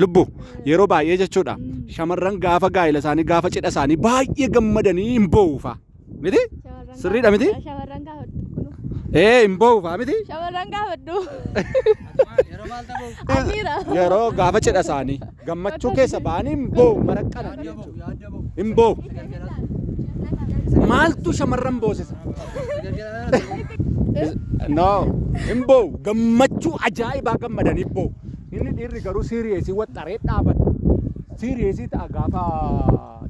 Lubbu, yeroo baay'ee jechuudha shamarran gaafa gaa'ila isaanii gaafa cidha isaanii baay'ee gammadanii hin boo'u fa'a. Miti? Sirriidha miti? Shamarran gaafa dhufnu. Ee hin boo'u fa'a miti? Shamarran gaafa dhufnu. Aniira. Yeroo gaafa cidha isaanii gammachuu keessa ba'anii hin boo'u maraqqana jechuudha. Hin boo'u. Maaltu shamarran boosisa? No, hin boo'u gammachuu ajaa'ibaa gammadanii boo'u. Inni dhiirri garuu siiriyeesii waxxaree dhaabata. Siiriyeesii ta'a gaafa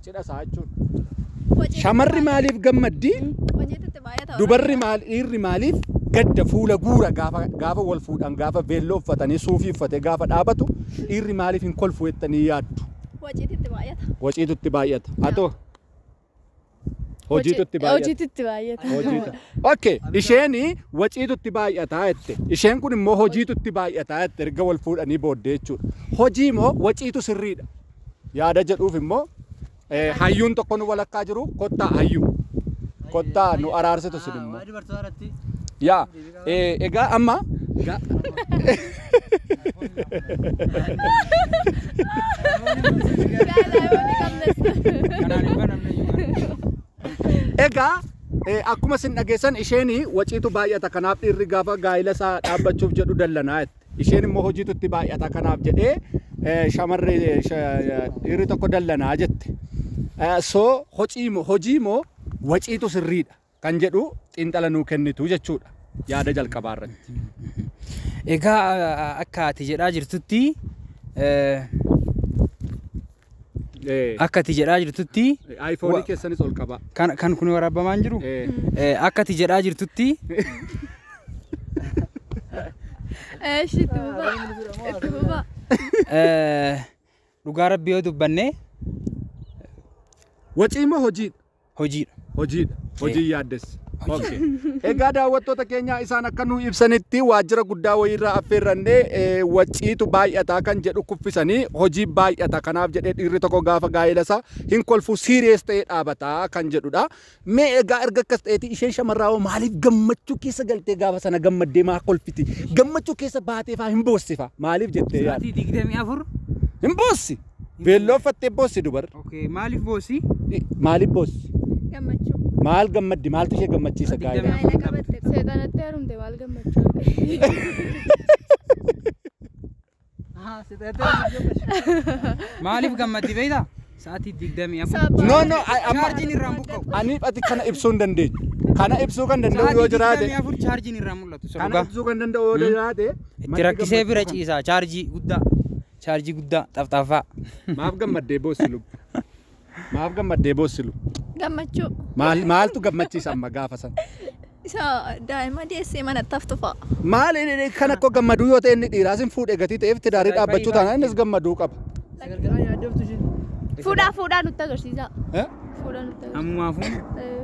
cidha isaa jechuudha. Shamarri maaliif gammaddi? Dubarri maal dhiirri maaliif gadda fuula guura gaafa gaafa wal fuudhan gaafa veelloo uffatanii suufii uffatee gaafa dhaabatu dhiirri maaliif hin kolfu jettanii yaaddu? Waciitu itti baay'ata. Atoo Hojiitu itti baay'ata. Hojiitu itti baay'ata. Hojiitu. Okay, isheen waciitu itti baay'ataa jette. Isheen kun immoo hojiitu itti baay'ataa jette erga wal fuudhanii booddee jechuudha. Hojii moo waciitu sirriidha? Yaada jedhuuf immoo eh, hayyuun tokko nu walakkaa jiru kottaa hayyuu. Kottaa nu araarsitu sin immoo. Yaa Eh, egaa amma ga- egaa eh, akkuma isin dhageessan isheen waciitu baay'ata kanaaf dhiirri gaafa gaa'ila isaa dhaabbachuuf jedhu dallanaa jette. isheen immoo hojiitu itti baay'ata kanaaf jedhee eh, shamarri eh, sha- dhiirri tokko dallanaa jette. Eh, so hocii moo- hojii moo waciitu sirriidha. kan jedhu xiinxala nuu kennitu jechuudha yaada jalqabaa irratti. Egaa akka ati jedhaa jirtutti akka ati jedhaa jirtutti Ayifoorii keessanis ol qaba. kan kan kun waraabamaa hin jiru akka ati jedhaa jirtutti Eeshi tuuba. Tuuba. Dhugaa rabbi yoo dubbanne Wacii moo hojiidha? hojiidha. Hojiidha. Hojii yaaddessa. Okay. Egaa daawwattoota keenyaa isaan akka nuu ibsanitti waajjira guddaa wayiirraa affeerrannee eh, waciitu baay'ataa kan jedhu kuffisanii hojii baay'ata kanaaf jedhee dhiirri tokko gaafa gaa'ela isaa hin kolfuu siiriyees ta'ee dhaabataa kan jedhudha. Mee egaa erga akkas ta'eeti isheen shamarraawoo maaliif gammachuu keessa galtee gaafa sana gammaddee maa kolfiti gammachuu keessa baatee faa hin boosse faa maaliif jettee yaadda? Sa'aatii digdamii afur. Hin boossi. Beelloo uffattee boossi dubarri. Okay. Maaliif boossi? I- Maaliif boossi? Gammachuu. Maal gammaddi? Maaltu ishee gammachiisa Ati gaa'ela? gammachuu. Gaa'ela qabatte. Seexanatti heerumte maal gammachuu argatte? Maaliif gammaddi beektaa? Sa'aatii 24. No, no, I- amma- Chaarjiin irraan buqqa'u. Ani ati kana ibsuu hin dandeenyu. Kana ibsuu kan danda'u yoo Sa'aatii jiraate. 24 chaarjiin irraa mul'atu. Isa Kana dhugaa. ibsuu kan danda'u yoo jiraate. Itti maddi rakkisee gammachuu bira kana. ciisaa. Chaarjii guddaa. Chaarjii guddaa xafxaafaa. Maaf gammaddee boossi lubbu. Maaf gammaddee boossilu? Gammachuu. Maal maaltu gammachiisa amma gaafa san? Isa daa'ima deessee manatti haftu fa'a. Maal inni kan akka gammaduu yoo ta'e inni dhiiraa sin fuudhee gatii ta'eef tidaarii dhaabbachuu taanaan innis gammaduu qaba. Sagalgalaa yaaddooftu isheen. Fuudhaa fuudhaa nutti agarsiisaa. Eh? Fuudhaa nutti agarsiisaa. Ammumaa fuunu. Eh.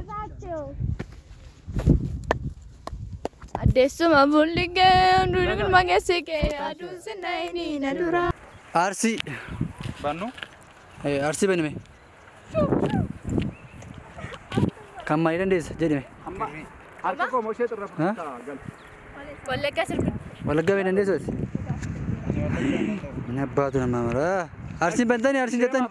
እባክህ Addeessuma fuulli kee hunduu gurma keessi kee aduun sinna inni na dura. Arsii. Bannu. Arsii banime. Kan maalii dandeessa jedhime. Harka koo moshee xirra fudhataa gal. Wallaggaa sirbi. Wallaggaa mee dandeessa ati? Inni abbaatu nama mara. Arsiin bantanii arsiin jettanii.